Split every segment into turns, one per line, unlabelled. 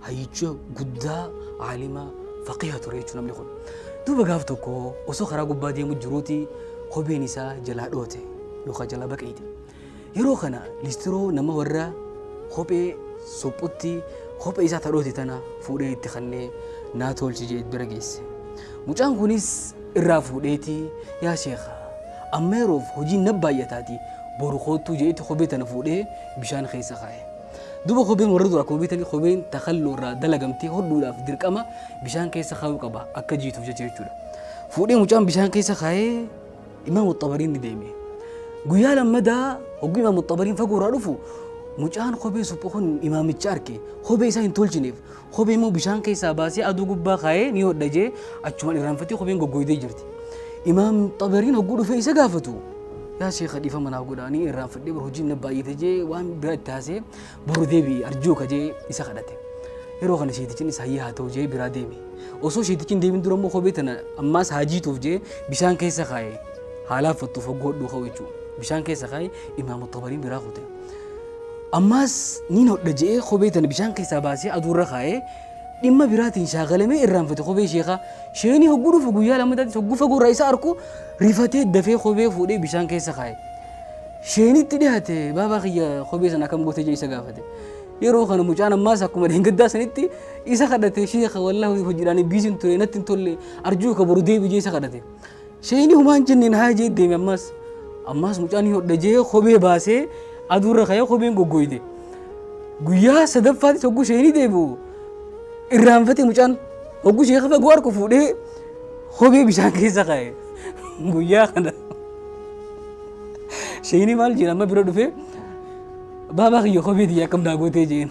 hayyicha guddaa aalima faqiha ture jechuun namni kun. Duuba gaaf tokko osoo karaa gubbaa deemu jiruuti kopheen isaa jalaa dhoote yookaan jalaa baqeeyte. Yeroo kana listiroo nama warra kophee suphutti kophee isaa tadhoote tana fuudhee itti kannee naa tolchi jee bira geesse. Mucaan kunis irraa fuudheeti yaa sheekha amma yeroof hojiin na baay'ataati boru koottuu jeetti kophee tana fuudhee bishaan keessa kaa'e. Duuba kopheen warra duraa koobii tani kopheen takalloo irraa dalagamtee hodhuudhaaf dirqama bishaan keessa kaayuu qaba akka jiituuf jecha jechuudha. Fuudhee mucaan bishaan keessa kaayee Imaam Axxabariin ni deeme. Guyyaa lammadaa hogguu Imaam Axxabariin fagoo irraa dhufu mucaan kophee suphu kun imaamicha arke kophee isaa hin tolchineef Kophee immoo bishaan keessaa baasee aduu gubbaa kaa'ee ni hodha jee achumaan irraanfatee kopheen goggooydee jirti. Imaam Xabariin hogguu dhufee isa gaafatu. Yaa sheekha dhiifama naaf godha ani irraanfadhee bar hojiin na baay'ate jee waan biraa itti haasee boru deebi'i arjuu ka jee isa kadhate. Yeroo kana sheetichiin isa hayyaa haa ta'u jee biraa deeme. Osoo sheetichiin deemin dura immoo kophee tana ammaas haa jiituuf jee bishaan keessa kaa'e. Haa laaffattuuf hogguu hodhuu ka'u jechuudha. Bishaan keessa kaa'e Imaam Xabariin biraa kute. Ammaas niin hodha je'ee kophee tana bishaan keessaa baasee aduurra kaa'e, dhimma biraatiin shaagalamee irraanfate kophee sheekhaa. Sheeyni hogguu dhufu guyyaa lammataatti hogguu fagoorraa isa arku rifatee dafee kophee fuudhee bishaan keessa kaa'e. Sheeynitti dhiyaate baabaa kiyya kophee sana akkam gootee jee isa gaafate. Yeroo kana mucaan ammaas akkuma dheengaddaa sanitti isa kadhate sheeka wallah hojiidhaan biisin ture natti hin tolle arjuu ka boru deebi jee isa kadhate. Sheeyni humaan jenneen haa jee deeme ammaas. Ammaas mucaan hin hodha jee kophee baasee aduurra ka'ee kopheen goggooyde. Guyyaa sadaffaatti hogguu sheeyni deebi'u irraanfate mucaan hogguu sheeka fagoo harku fuudhee kophee bishaan keessa kaa'e. Guyyaa kana sheeyni maal jedha amma bira dhufee baabaa kiyya kophee tiyya akkam naa gootee jeen.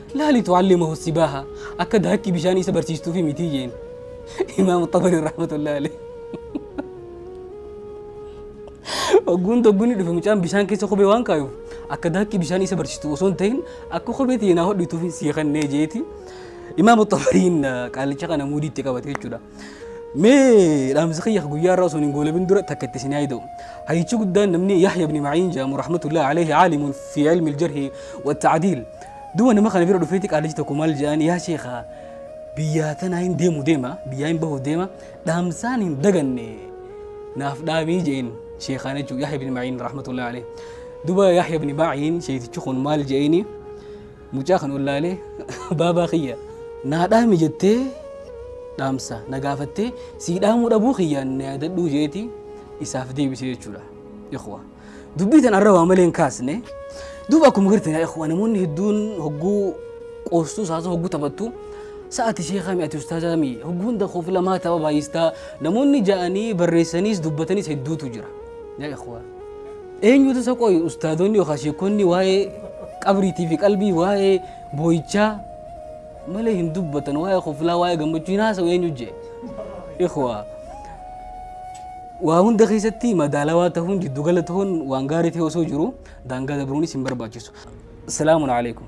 Laali tu'aallee ma hossi baaha akka daakkii bishaanii isa barsiistuufi mitii jeen. Imaam Xabarii rahmatullahi alayhi. Ogguun togguun dhufe mucaan bishaan keessa kophee waan kaayuuf akka daakkii bishaanii isa barsiistu osoo hin ta'in akka kophee ta'e naa hodhituufi sii kennee jeeti. Imaam Xabariin qaalicha kana muudiitti qabate jechuudha. mee dhaamsi kiyya guyyaa irraa osoo hin goolabin dura takka itti isin yaada'u hayyichi guddaan namni yahya ibni ma'iin jedhamu rahmatullahi alayhi aalimun fi ilmi aljarhi wattacdiil duba nama kana bira dhufeeti qaalichi tokko maal jedhaan yaa sheekha biyyaa tanaa hin deemu deema biyyaa hin bahu deema dhaamsaan hin daganne naaf dhaamii jeen sheekaan jechuun yahya ibni ma'iin rahmatullahi alayhi duba yahya ibni ma'iin sheetichi kun maal jeeni Mucaa kan ollaalee baabaa kiyya naa dhaami jettee dhaamsa na gaafattee sii dhaamuu dhabuu kiyyaan na yaadadhuu jeeti isaaf deebisee jechuudha. Ikhwa. Dubbii tan arra waa malee hin kaasne. Duuba akkuma gartan yaa ikhwa namoonni hedduun hogguu qoostuu saasuu hogguu taphattu sa'ati sheekaa mi'ati ustaazaa mi hogguu hunda koof lamaa tapha baay'istaa namoonni ja'anii barreessaniis dubbatanis hedduutu jira. Yaa ikhwa. Eenyutu isa qoyi ustaadonni yookaan sheekonni waa'ee qabriitii fi qalbii waa'ee boo'ichaa malee hin dubbatan waa'ee koflaa waa'ee gammachuu hin haasa'u eenyu jee ikhwaa waa hunda keessatti madaalawaa ta'uun jiddugala ta'uun waan gaarii ta'e osoo jiru daangaa dabruunis hin barbaachisu. Salaamun alaikum.